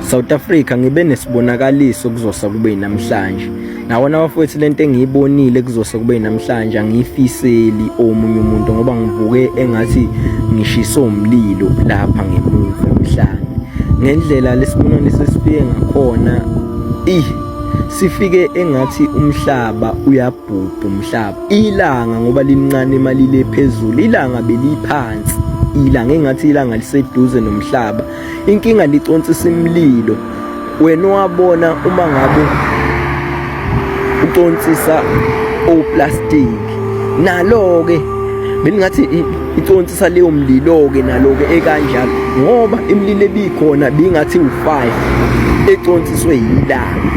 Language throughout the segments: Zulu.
South Africa ngibe nesibonakaliso kuzosa kube inamhlanje nawona bafowethu lento engiyibonile kuzosa kube inamhlanje angiyifiseli omunye umuntu ngoba ngivuke engathi ngishiso umlilo lapha ngemuva emhlanje ngendlela lesibonani sesifike ngakhona ih sifike engathi umhlaba uyabhubha umhlaba ilanga ngoba lincane imali le phezulu ilanga beliphansi ilanga engathi ilanga liseduze nomhlaba inkinga niconsisa imlilo wena wabona uma ngabe uconsisa oplastic nalo ke bengingathi iconsisa leyo mlilo ke nalo ke ekanjalo ngoba imlilo ebikhona bingathi u5 econsiswe yilanga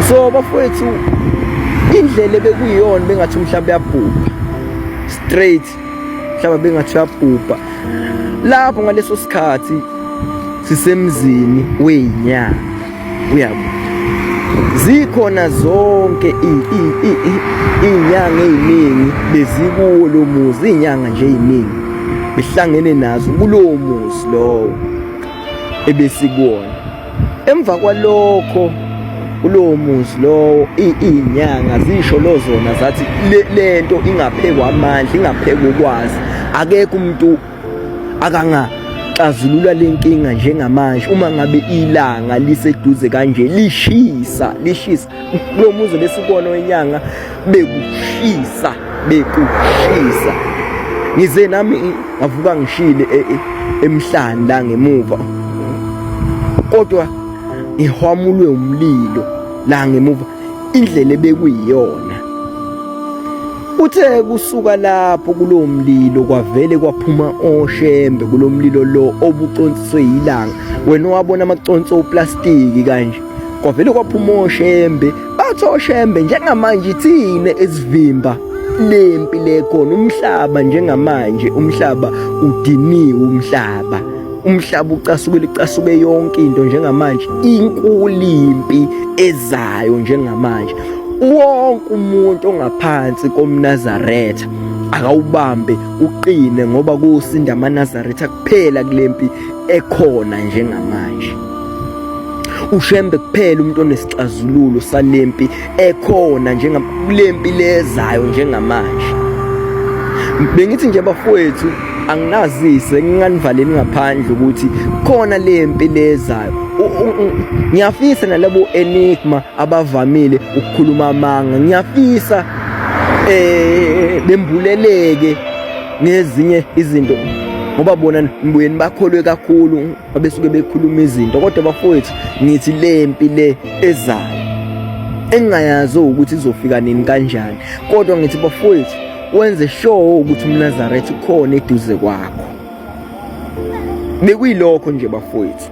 so bafowethu indlela bekuyiyona bengathi umhlaba uyabhubha straight mhlaba bengathi uyabhubha lapho ngaleso sikhathi sisemzini weyinyanga uyabo zikhona zonke iy'nyanga ey'ningi bezikuwo lo muzi iy'nyanga nje ey'ningi behlangene nazo kulowo muzi lowo ebesikuwona emva kwalokho kulowo muzi lowo iy'nyanga zisho lo zona zathi le nto ingaphekwa amandla ingaphekwa ukwazi akekho umuntu akangaxazulula le nkinga njengamanje uma ngabe ilanga liseduze kanje lishisa lishisa kulo muzi besikona wenyanga bekushisa bekushisa ngize nami ngavuka ngishile e, e, emhlanje la ngemuva kodwa ngihwamulwe umlilo la ngemuva indlela ebekuyiyona Uthe kusuka lapho kulowo mlilo kwavele kwaphuma oshembe kulo mlilo lo obuconsiswe yilanga wena owabona amaconsi oplastiki kanje kwavele kwaphuma oshembe bathi oshembe njengamanje ithine esivimba lempi lekhona umhlaba njengamanje umhlaba udiniwe umhlaba umhlaba ucasukile icasuke yonke into njengamanje inkulu impi ezayo njengamanje wonke umuntu ongaphansi komnazaretha akawubambe uqine ngoba kusinda amanazaretha kuphela kulempi ekhona njengamanje ushembe kuphela umuntu onesixazululo salempi ekhona njengalempi lezayo njengamanje bengithi nje bafowethu anginazise nginganivaleli ngaphandle ukuthi khona lempi lezayo ngiyafisa nalabo enigma abavamile ukukhuluma amanga ngiyafisa eh bembuleleke ngezinye izinto ngoba bona nibuye nibakholwe kakhulu babesuke bekhuluma izinto kodwa bafowethu ngithi le mpi le ezayo engingayazi ukuthi izofika nini kanjani kodwa ngithi bafowethu wenze sure ukuthi umnazaretha ukhona eduze kwakho bekuyilokho nje bafowethu